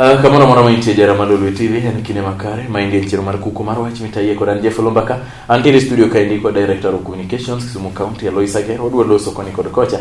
Uh, kamano moro mantie jara ma Lolwe TV en kinde makare ma inge chiro mar kuko mar wach mitaye kod an Jeff Lombaka antiere studio kaendi kod director of communications Kisumu County Alois Ager odwa loso koni kod kocha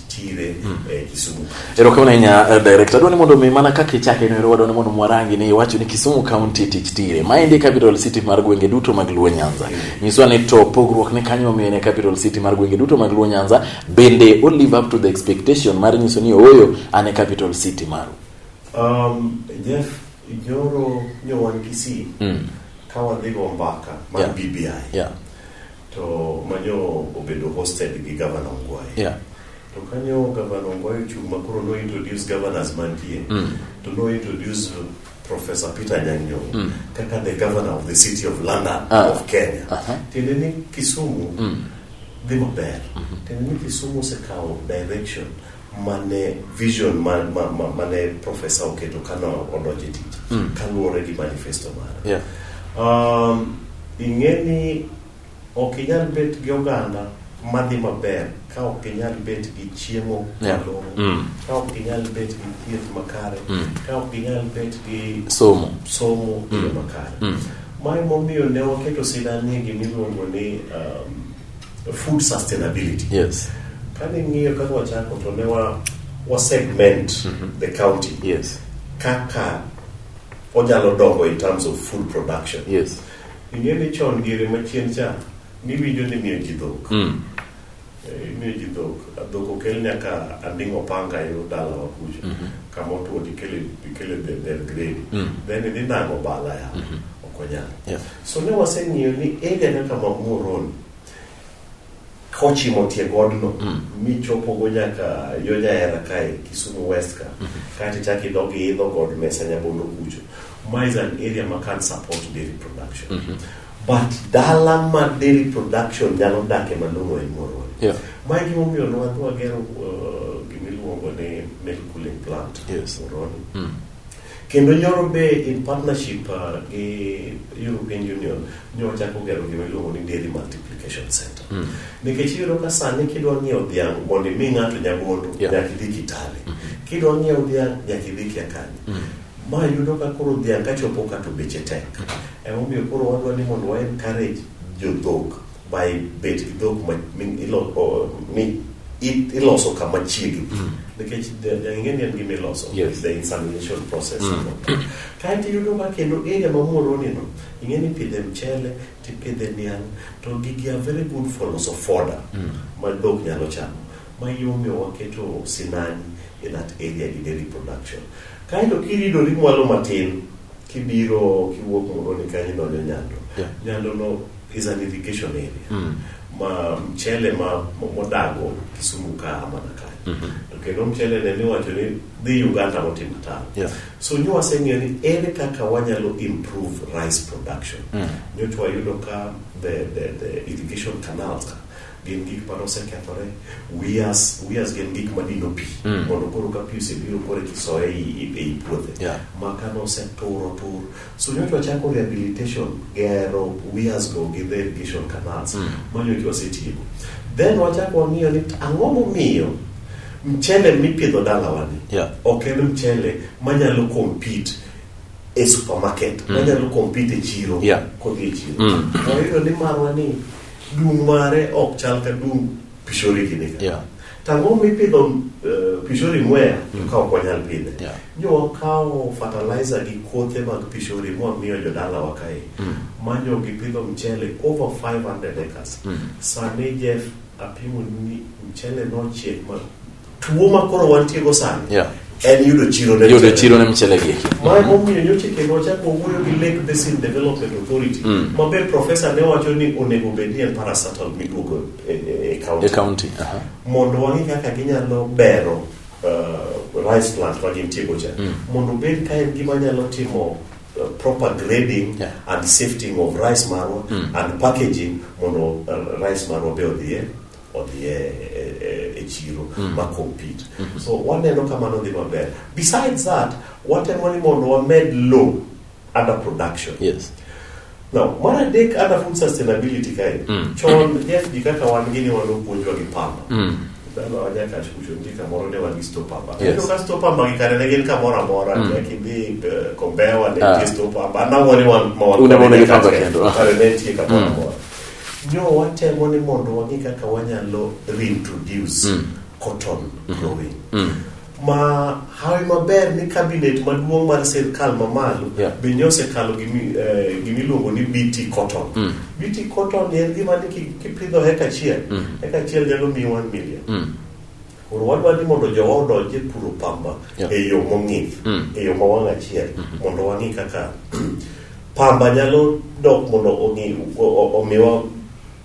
tire mm. eh, Kisumu. Erokamano ahinya uh, director. Adwani mondo mi mana kaka ichake no erowa dwani mondo mwarangi ni iwacho ni Kisumu County tich tire. Ma ende capital city mar gwenge duto mag Luo Nyanza. Mm. Nyiswa ni to pogruok ne kanyo mine capital city mar gwenge duto mag Luo Nyanza bende o live up to the expectation mar nyiso ni oyo ane capital city maru. Um, Jeff, joro nyowan Kisii. Mm. Kawa dhigo mbaka mar yeah. BBI. Yeah. To manyo obedo hosted gi Gavana Ongwae. Yeah. To kanyo Gavana Ongwae ochung' ma koro no introduce governors mantie. Mm. To no introduce Professor Peter Nyanyo mm. kaka the governor of the city of London ah. of Kenya. Uh -huh. Tiende ni Kisumu mm. dhi maber. Mm -hmm. Tiende ni Kisumu osekawo direction. Mm mane vision mane ma, ma, ma profesa oketo kane odonjo e tich mm. kaluwore gi manifesto mare yeah. um, ing'e ni ok inyal bet gi oganda madhi maber ka ok inyal bet gi chiemo malong'o mm. ka ok inyal bet gi thieth makare mm. ka ok inyal bet gi somo somo e mm. makare mm. mae momiyo ne waketo sidani gimiluongo ni um, food sustainability yes kane ng'iyo kaka wachako to ne wa, wa segment mm -hmm. the county yes kaka onyalo dongo in terms of food production yes ing'e ni chon diere machien cha niwinjo ni miyo ji dhok mm. Eh, imiyo ji dhok dhok okel nyaka anding' opanga yo dalawa kucha mm -hmm. kama otuo tikele tikele del gredi mm. then idhi nango bala ya mm -hmm. ok wanyal yeah. so ne waseng'iyo ni ere kaka mamuoroni kochimo tie godno mm. michopogo nyaka yo nyahera kae kisumu west ka mm -hmm. kaeto ichako idog iidho god mesa nyabondo kucho ma is an area ma can support dairy production mm -hmm. but dala ma dairy production nyalo dake malong'o en moroni yeah. ma gimomiyo nwadhi wagero uh, gimiluongo ni milk cooling plant yes. moroni mm. Kendo nyoro be in partnership uh, gi European Union nyo chako gero gima iluongo ni dairy multiplication center. Mm. Nikech iyudo ka sani kidwa ng'iewo dhiang' mondo imi ng'ato nyagondo yeah. nyaka idhi Kitale. Mm -hmm. Kidwa ng'iewo dhiang' nyaka idhi Kiakani. Mm. Ma yudo ka koro dhiang' kachopo ka to beche tek. Mm. Emomiyo koro wadwa ni mondo wa encourage jodhok by bet gi dhok ma iloso kama chiegni mm. nikech ing'e ni en gima iloso the insemination process mm. kaeto iyudo ma kendo area ma moronino ing'e ni pidhe mchele tipidhe niang' to gigi are very good for loso foda mm. ma dhok nyalo chamo ma yomiyo waketo sinani in that area in dairy production kaeto kiridori mwalo matin Kibiro kiwuok Muhoroni kanyo idonjo Nyando. Yeah. Nyando no is an irrigation area. Mm. Ma mchele ma mo- modago Kisumu ka mana kanyo. Mhm. To kendo mchele ne niwacho ni dhi Uganda motimo tano. Yeah. So nyo waseng'eyo ni ere kaka wanyalo improve rice production. Mm. Nyocha wayudo ka the, the, the irrigation canals ka gin gik ma nosekethore wias wias gin gik ma dino pi mm. mondo koro ka pi osebiro koro kisoye ei puothe yeah. ma ka noseturo tur so nyocha wachako rehabilitation gero wias go gi the irrigation canals mm. ma nyocha wasetieko then wachako wang'iyo ni ang'o momiyo mchele mipidho dalawani yeah. ok en mchele manyalo compete e supermarket mm. manyalo compete e chiro yeah. kodhi e chiro mm. wayudo ni marwa ni Dung mare ok chal ka dung pishori gini ka. Yeah. Tango mipidho uh, pishori mwea mm. ka ok wanyal pidhe. Yeah. Nyo wakawo fertilizer gi kothe mag pishori mwa miyo jodala wa kae. Mm. Manyo gipidho mchele over 500 acres. Mm. Sani Jeff apimo ni mchele nochiek ma Tuo ma koro wantie go sani. Yeah. En yudo chiro ne yudo chiro ne mchele gi. Ma mo mi nyo chike go cha ko wuyo gi Lake Basin Development Authority. Mm. Ma be professor ne wacho ni onego bed ni en parastatal miduogo e, e, e county. E county. Aha. Mondo wangi kaka ginyalo bero uh, rice plant ma gin tiego cha. Mm. Mondo bed ka en gima nyalo timo Uh, proper grading yeah. and sifting of rice marwa mm. and packaging mondo uh, rice marwa be odhiye odhi e, e, e, e chiro mm. ma compete mm -hmm. so waneno ka mano dhi maber besides that watemo ni mondo wamed low under production yes. Now, mar adek under food sustainability kae mm. chon jeff gi kaka wan gini wan opuonjwa gi pamba mm. dhano wanyaka chucho ni kamoro ne wan gi sto pamba yes. ento ka sto pamba gi kare ne gin kamoro amora mm. nyaka idhi eh, kombewa ne ah. sto pamba anang'o ni wan ma wan kare ne nitie kamoro mm. amora mm. Nyo watemo ni mondo wang'e kaka wanyalo reintroduce mm. cotton mm-hmm. growing. Mm -hmm. Mm -hmm ma hawi maber ni cabinet maduong' mar sirkal mamalo yeah. be nyo osekalo eh, gimiluongo ni bt cotton mm. bt cotton en gima ni kipidho heka achiel mm. heka achiel nyalo miyi 1 million mm. Koro wadwa ni mondo jowa odonj e puro pamba yeah. e yo mong'ith, mm. e yo ma wang' achiel, mm -hmm. mondo wang'i kaka pamba nyalo dok mondo omiwa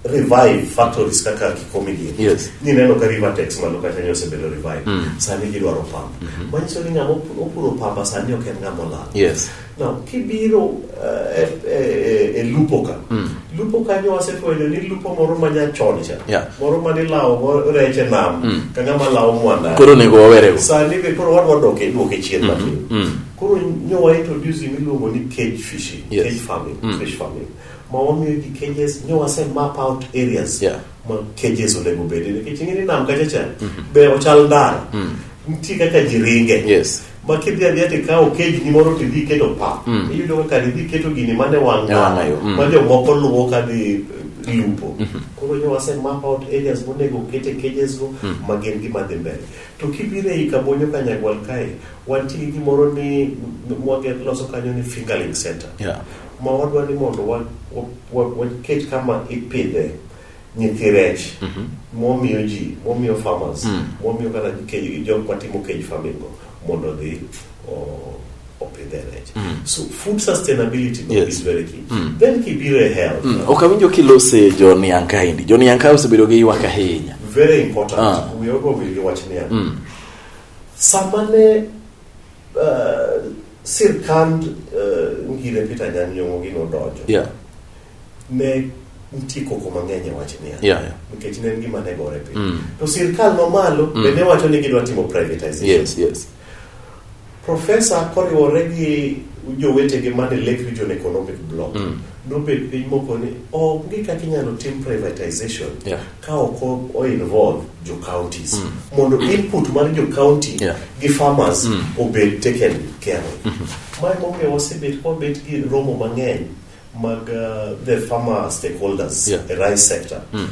revive factories kaka kikomi gi yes. ni neno ka river tax malo kata nyo se bedo revive mm. sani gi dwaro pamba mm -hmm. manyiso ni ngamo opuro pamba sani ok en ngamo lal yes. Now, kibiro uh, e, e, e, e lupo ka mm. lupo kanyo wasefwenyo ni lupo moro ma nyachon cha yeah. moro ma nilawogo rech e nam mm. ka ng'ama lawo mwanda koro onego wawerego sani be koro wadwa doke duoke chien mm-hmm. matin mm -hmm. koro nyo waintroduce miluongo ni cage fishing yes. cage farming mm. fish farming ma wamiyo ji cages nyo wase map out areas yeah. ma cages onego bedi nikech ing'e ni nam kacha cha mm -hmm. be ochal ndara mm. nitie kaka ji ringe yes. ma kidhi adhiya to ikawo kejni moro to idhi iketo pa Mm. iyudo kaka idhi iketo gini mane wang' E wang' yo, mm. ma jomoko luwo ka dhi eh, lupo koro nyo wase map out areas monego okete cages go ma gin gima dhi mbele to kibiro ei kabonyo ka nyagwal kae wantie gi gimoro ni mwage loso kanyo ni fingerling center Yeah. ma wadwa ni mondo wa- wa- wa- waket kama ipidhe nyithi rech mhm. momiyo ji momiyo farmers mm. momiyo kata kejgi jok matimo kej farming go mondo odhi opidhe rech mm. so food sustainability yes. is very key mm. then kibiro e health mm. ok awinjo kilose joni yankaindi joni yanka osebedo gi ywak ahinya very important ah. we all go gi wach niya mm. sama ne uh, sirkand uh, ngire peter nyanyong'o gi nodonjo yeah. ne nitie koko mang'eny e wach niya yeah, yeah. nikech ne en gima ne gore piny mm. to sirkal mamalo mm. bende wacho ni gidwa timo privatization yes, yes. profesa koriwore gi jowetegi mane lake region economic block mm. nobed piny moko ni onge oh, kaka inyalo tim privatization yeah. ka ok oinvolve jo counties mm. mondo input mar jo county yeah. gi farmers mm. obed taken care of mm -hmm. mae momiyo wasebet kwabet gi romo mang'eny mag uh, the farmer stakeholders yeah. the rice sector mm.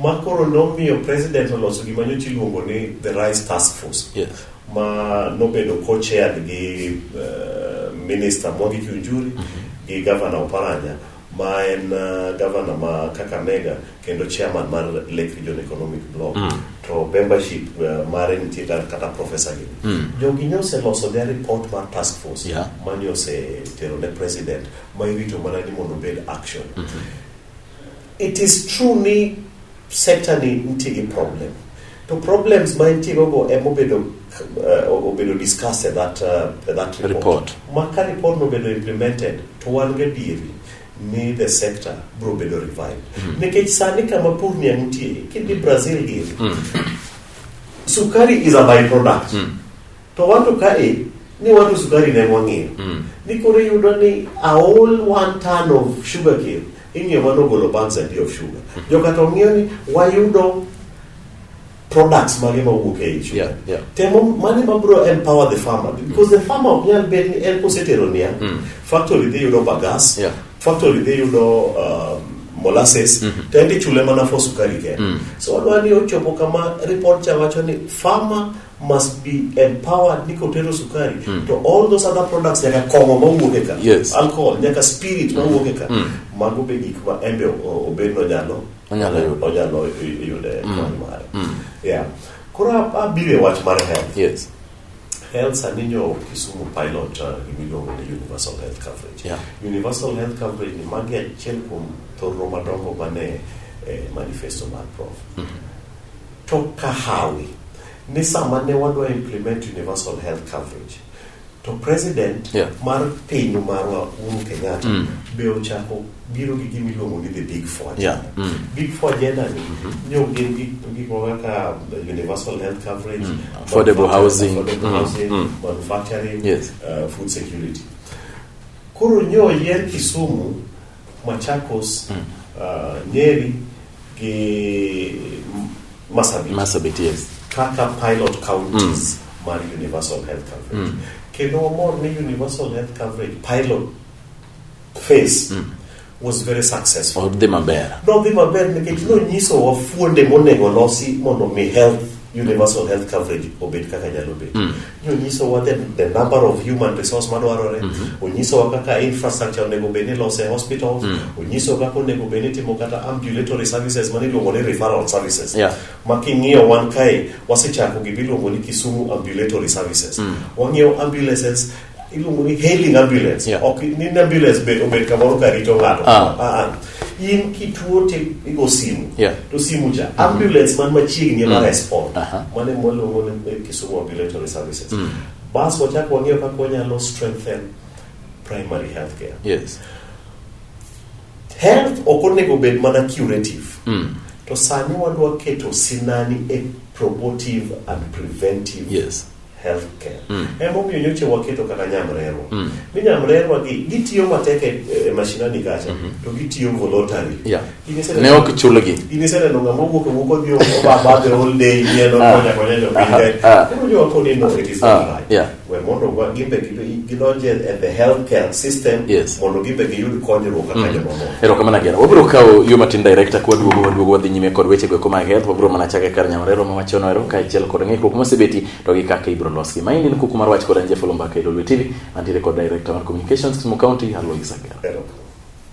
ma koro nomiyo president oloso gima nyocha iluongo ni the rice task force yes. ma nobedo co-chaired gi uh, minister Mwangi Kiunjuri mm -hmm. gi governor Oparanya ma en uh, governor ma Kakamega kendo chairman mar Lake Region Economic Block mm. to membership uh, mare nitie kata professor gi mm. jogi nyoseloso their report mar task force yeah. ma nyosetero ne president ma irito mana ni mondo obed action mm -hmm. it is true ni sector ni nitie gi problem to problems ma nitie gogo ema obedo uh, obedo discuss at that, uh, that report, report. ma ka report nobedo implemented to wan gadieri ni the sector bro bedo revived mm -hmm. nikech sani kama pur ni nitie kidhi brazil giri mm. sukari is a byproduct mm. To wato kae ni wato sukari ne wang'eyo mm. ni koro iyudo ni a all one ton of sugar cane ing'eyo mano ogolo pounds adi of sugar mm. joka to ng'eyo ni wayudo products mage ma wuok ei sugar yeah, yeah. temo mane ma bro empower the farmer because the farmer ok nyal bed ni en kosetero niya mm. factory dhi yudo bagas yeah. factory dhi yudo um, molasses mm -hmm. to en ichule mana for sukari kende mm. so wadwa ni ochopo kama report cha wacho ni farmer must be empowered ni kotero sukari mm. to all those other products nyaka kong'o mawuok e ka yes. alcohol nyaka spirit mawuok e ka mm. mago be gik ma embe obed nonyalo onyalo yude mm. kony mare mm. yeah. koro abiro e wach mar health yes. health sani nyo kisumu pilot uh, gimiluongo ni universal health coverage yeah. universal health coverage ni magi achiel kuom thorro madongo mane eh, manifesto mar prof mm -hmm. To kahawi ni sama ne wadwa implement universal health coverage to president yeah. mar piny marwa Uhuru Kenyatta mm. be ochako biro gi gima iluongo ni the big four agenda. Yeah. Mm. Big four agenda ni mm -hmm. nyo gin gik kaka uh, universal health coverage, mm. affordable housing, affordable mm. housing mm. manufacturing, yes. uh, food security. Koro nyo yer Kisumu Machakos, mm. uh, Nyeri gi Masabit. Masabit, yes. Kaka pilot counties mm. mar universal health coverage. Mm. Kendo wamor ni universal health coverage pilot phase mm. was very successful. Odhi maber. Nodhi maber nikech nonyiso wa fuonde monego losi mondo mi health universal health coverage obed kaka nyalo bedo. Mm. onyisowa the, the number of human resource madwarore mm -hmm. onyisowa kaka infrastructure onego bed ni lose hospitals mm -hmm. onyisowa kaka onego bed ni timo kata ambulatory services mane iluongo ni referral services yeah. ma king'iyo wan kae wasechako gimiluongo ni kisumu ambulatory services mm -hmm. wang'iewo ambulances iluongo ni hailing ambulance yeah. ok ni ambulance be obed kamoro ka rito ng'ato ah. ah, ah. in kituo to igo simu yeah. to simu cha mm-hmm. ambulance man machiegni ema mm. respond uh -huh. mane mwaluongo ni eh, Kisumu ambulatory services mm. bas wachak wang'eyo kaka wanyalo strengthen primary health care yes. health ok onego bed mana curative mm. to sani wadwa keto sinani e promotive and preventive yes. healthcare mm. emomiyo nyocha waketo kata nyamrerwa mm. mi nyamrerwa gi gitiyo matek e, e mashinani kacha mm -hmm. to gitiyo voluntary yeah. ne ok chulgi iniseneno ng'ama owuok owuok odhi obabadhe all day yeno ah. konya konya jopiny ah, ah. koro jowaponi no it is not right we mondo gimbe gidonje e the health care system Yes. mondo gibe giyud konyruok kaka jomamoko erokamano agera wabiro kawo yo matin director kwa duogo waduogo wadhi nyime kod wechego eko mag health wabiro mana chake kar nyamarero ma wachono ero kaachiel kod ng'ikruok mosebeti to gi kaka ibiro losgi maendi en kuku mar wach kod anjefolo mbaka e lolwe tv antiere kod director mar communications kisumu county alois agera Erokamano.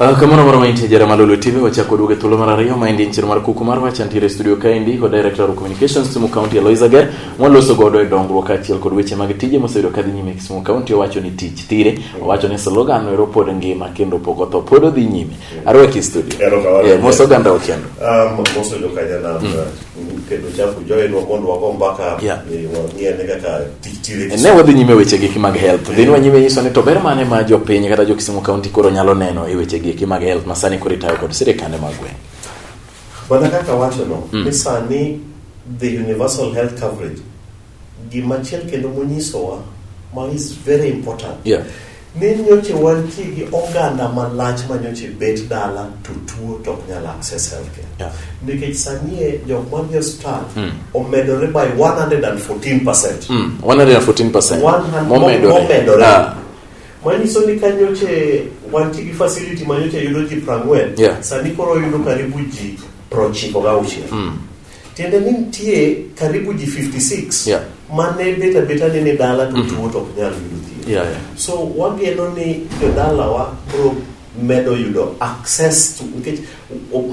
Ah, kamano moro maintie jara malolo tv wachako duoge thuolo mar ariyo maendi en chiro mar kuku mar wach antiere e studio kaendi kod director of communications Kisumu County Alois Ager mwaloso godo e dongruok kaachiel kod weche mag tije moseyudo kadhi nyime e Kisumu County owacho ni tich thire owacho ni slogan ero pod ngima kendo pok otho pod odhi nyime arwaki e studio yeah, mos oganda okendo um, mos oyudo kanyana mm. kendo chafu joinwa mondo wago mbaka Yeah. e, wang'e ane kaka tich tire ne wadhi nyime weche giki mag health dhi nwa nyime nyiso ni to ber mane ma jopiny kata jo kisumu county koro nyalo neno e weche giki mag health ma sani koro itayo kod sirikande mag gweng' mana kaka wachono ni sani the universal health coverage Gimachiel kendo monyisowa ma is very important yeah. ni nyoche wantie gi oganda malach ma nyoche bet dala to tuo to ok nyal access healthcare yeah. nikech sanie jok madhi osiptal mm. omedore by 114 percent mm. 114 percent momedore ah. manyiso ni ka nyoche wantie gi facility ma nyoche yudo ji prang'wen yeah. sani koro yudo karibu ji prochiko gauchiel mm. Tiende ni nitie karibu ji 56 yeah. ma ne bet abeta ni ni dala to mm -hmm. tuo to ok nyal yudo thieth. Yeah, yeah. So wageno ni jodalawa bro medo yudo access to nikech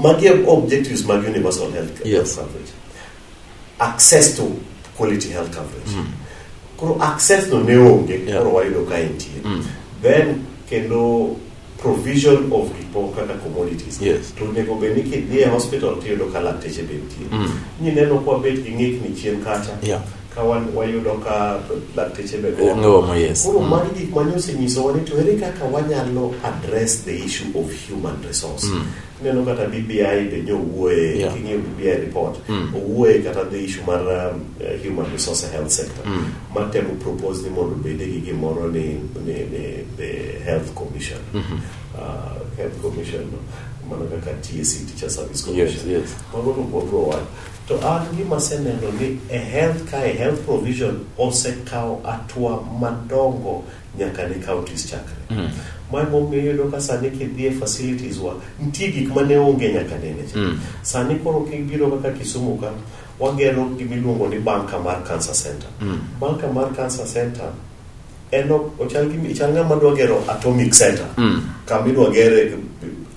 magi objectives mag universal health care yes. coverage access to quality health coverage mm. koro access no ne onge yeah. koro wayudo ka entie mm. then kendo provision of report kata commodities Yes. to onego bed ni kidhi e hospital tiyudo ka lakteche be nitie Mm. nyineno kwa bet gi ng'ikni chien kacha Yeah. ka wan- wayudo ka lakteche be Eh, ngomo, yes. koro Mm. magi gik mane osenyisowa ni to ere kaka wanyalo address the issue of human resource Mm. ineno kata BBI be nyo owuoye yeah. king'iyo BBI report mm. owuoye kata the issue mar um, uh, human resource health sector mm. matemo propose ni mondo bede gi gimoro ni, ni, ni the health commission mm -hmm. uh, health commission mana kaka TSC e, teacher service commission yes, yes. mago to bodro wach to an gima aseneno ni e health ka e health provision osekawo atwa madongo nyaka ne counties chakre. Mm -hmm. Mar momiyo iyudo ka sani kidhi e facilities wa, nitie gik ma ne onge nyaka nene cha. Mm -hmm. Sani koro kibiro kaka Kisumu ka, wagero gimiluongo ni banka mar cancer center. Mm -hmm. Banka mar cancer center en ochal gi chal ng'ama dwa gero atomic center mm. kama idwa gere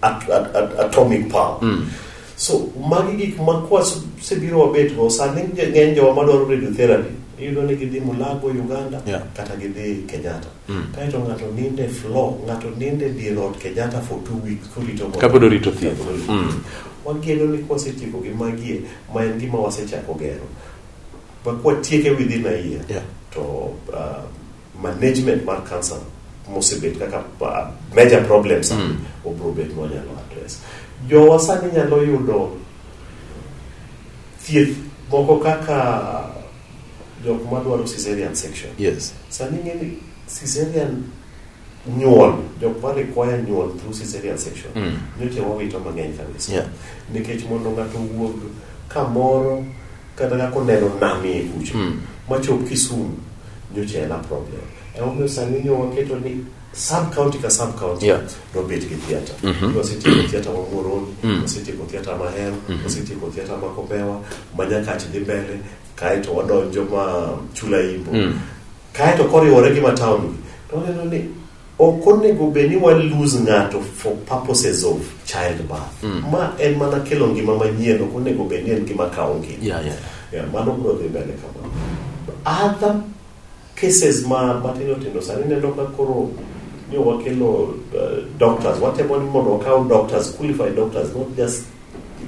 at, at, at, atomic power mm. So magi gik ma kwasebiro wabetgo sani ng'eny jowa madwaro radiotherapy iyudo ni gidhi Mulago Uganda yeah. kata gidhi Kenyatta mm. kaeto ng'ato ninde floor ng'ato ninde dier ot Kenyatta for two weeks korito kapod orito thieth mm. wageno ni kwasetieko gi magie ma en gima wasechako gero but kwatieke within a year yeah. to uh, management mar cancer mosebet kaka uh, major problems mm. obro bet mwanyalo address jowa sani nyalo yudo thieth moko kaka jok madwaro caesarean section yes. sani ng'eni caesarean nyuol jok ma require nyuol through caesarean section mm. nyocha wawito mang'eny kabisa yeah. nikech mondo ng'ato wuog kamoro kata kaka oneno namie kucho mm. machop kisumu nyocha en a problem emomiyo sani ni waketo ni sub county ka sub county yeah. nobed gi theatre mm -hmm. wasetieko theatre ma Muhoroni mm -hmm. wasetieko theatre ma Hero mm -hmm. wasetieko theatre ma Kobewa ma Nyakach dhi mbele kaeto wadonjo ma Chula Imbo mm -hmm. kaeto koriwore gi ma town to waneno ni Ok onego bed ni wa lose ng'ato for purposes of childbirth. Mm. Ma en mana kelo ngima manyien, ok onego bed ni en gima kawo ngima. Yeah, yeah. Yeah, mano biro dhi mbele kamano. Other cases ma matindo tindo sani neno ka koro ni wakelo uh, doctors, watemo ni mondo wakaw doctors, qualified doctors, not just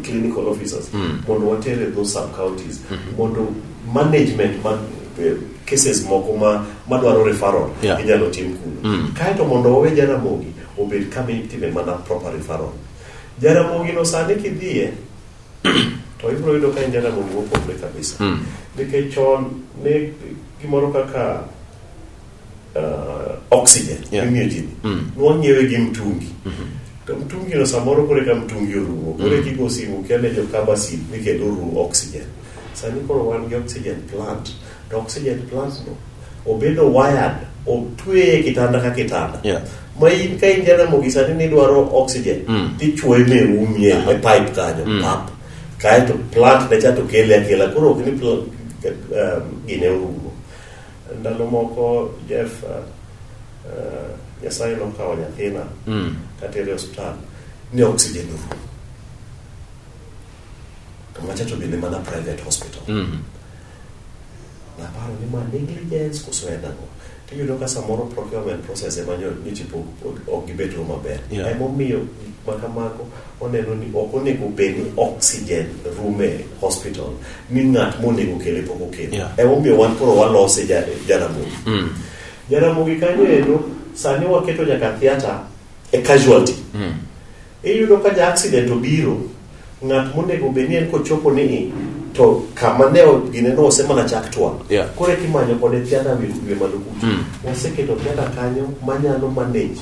clinical officers mm. mondo water e those sub counties mm -hmm. mondo management ma eh, cases moko ma madwaro referral yeah. inyalo tim kuno mm. kaeto mondo wawe jaramogi obed kama itime mana proper referral jaramogi no sani kidhiye to ibiro yudo ka en jaramogi mopogre kabisa mm. nikech chon ne gimoro kaka uh, oxygen Yeah. mimiyo ji Mm. nwa ng'iewe gi mtungi to mtungino samoro kore ka mtungi orumo kore kigo simu kele jo kabasin ni kendo orumo oxygen sani koro wan gi oxygen plant to oxygen plant no obedo wired otweye kitanda ka kitanda Yeah. ma in ka in jaramogi sani nidwaro oxygen Mm. tichwoye merumie e pipe kanyo Mm. pap kaeto plant ne cha to kele akela koro ok ni pl- um, gine orumo Ndalo moko Jeff, uh, uh, Nyasaye nokawo nyathina mm. katere hospital ni oxygen room to machacho bende mana private hospital mm -hmm. naparo ni ma negligence koso en ang'o tiyudo ka samoro procurement process ema nyochipo ok gibet maber yeah. emomiyo gik ma kamago oneno ni ok onego bed ni oxygen rume e hospital ni ng'at monego kele pok okele yeah. emomiyo wan koro walose jaramogi mm. jaramogi kanyo endo sani waketo nyaka theatre e casualty mm. iyudo ka ja accident obiro ng'at monego bed ni en kochopo ni to kama ne gineno ose mana chak twang yeah. koro kimanyo kode theatre wiye malo kucho mm. waseketo theatre kanyo manyalo manage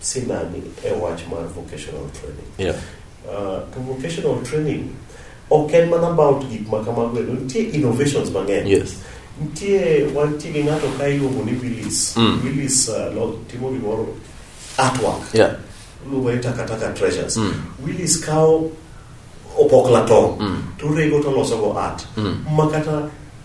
sinani e wach mar vocational training. Yeah. Uh, to vocational training ok en mana about gik ma kamago endo nitie innovations mang'eny yes. nitie wantie gi ng'ato ka iluongo ni willis mm. willis uh, lo, timo gimoro artwork yeah. luongo ni takataka treasures mm. willis kawo opokla tong mm. to orego to losogo art mm. makata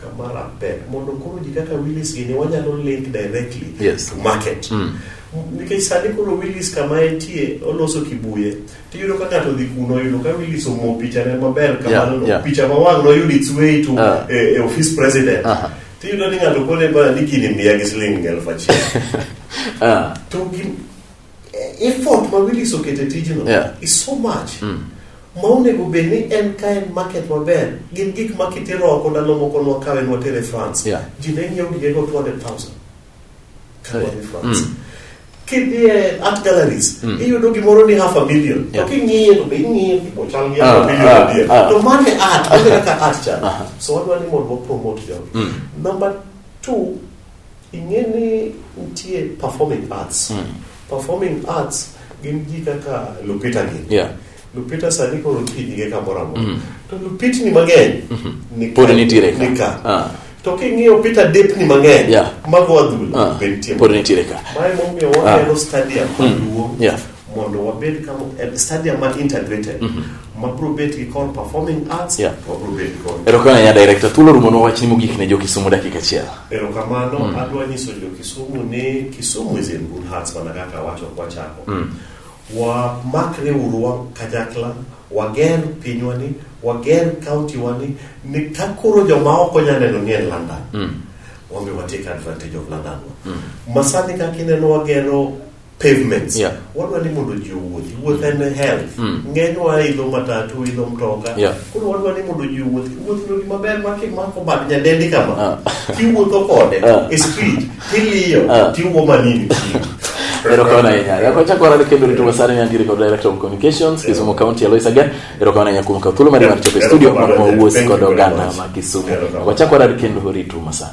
Kamara pek mondo koro ji kaka Willis gini wanyalo link directly yes. to market mm. nikech sani koro Willis kama entie oloso kibuye tiyudo ka ng'ato dhi kuno yudo ka Willis omo pichane maber kamano yeah, yeah. picha ma wang' noyud its way to uh. e, e office president uh -huh. tiyudo ni ng'ato kone ba ni gini miya gi siling' elfu achiel uh. to effort ma Willis oketo e tijno yeah. is so much mm. ma onego bed ni en ka en market maber gin gik ma kitero oko ndalo moko nwakawe nwatere france yeah. ji ne nyiewo gigego 200000 kadwadhi france mm. kidhie art galleries mm. iyudo gimoro ni half a million yeah. to king'iye to be ing'iye tipo chal gi ah, half a million ah, adier ah, to mane art onge kaka art chal uh -huh. so wadwa ni mondo wapromote jogi mm. number two Ing'e ni nitie performing arts. Mm. Performing arts gin ji kaka Lupita gin. Yeah. Lupita sani koro nitie nyinge kamoro amora. Mm. To Lupitni mang'eny mm -hmm. pod nitiere ka. Nika. Ah. To king'iyo Peter Depni mang'eny yeah. mago adhula ah. be nitie. Pod nitiere ka. Mae momiyo waneno ah. stadium maduong'. Mm. Yeah. mondo wabed kama eh, stadium ma integrated mhm. mabro bet gi kor performing arts yeah. wabro bet kor erokamano nya director thuolo rumo nowachni mogik ne jokisumu dakika achiel erokamano mm. adwa nyiso jokisumu ni kisumu is in good hearts mana kaka awacho kwachako mm. wamakre uru wa kanyakla wager pinywani wager county wani ni ka koro joma ok onya neno ni en london mm. wambe watake advantage of london mm. masani kaka ineno wagero pavements yeah. wadwa ni mondo ji owuothi wuoth en health mm. ng'enywa idho matatu idho mtoka yeah. koro wadwa ni mondo ji owuothi wuothno gima ber ma kimako bad nyadendi kama uh. Ah. tiwuotho kode uh. e street tiliyo uh. Ah. tiwuo manini erokamano ahinya yakwachako warade kendo rito masani nyangiri kod director of communications kisumu county alois again erokamano ahinya kuom kawo thuolo mari mar chopo e studio mondo wawuosi kod oganda ma kisumu yakwachako warade kendo rito masani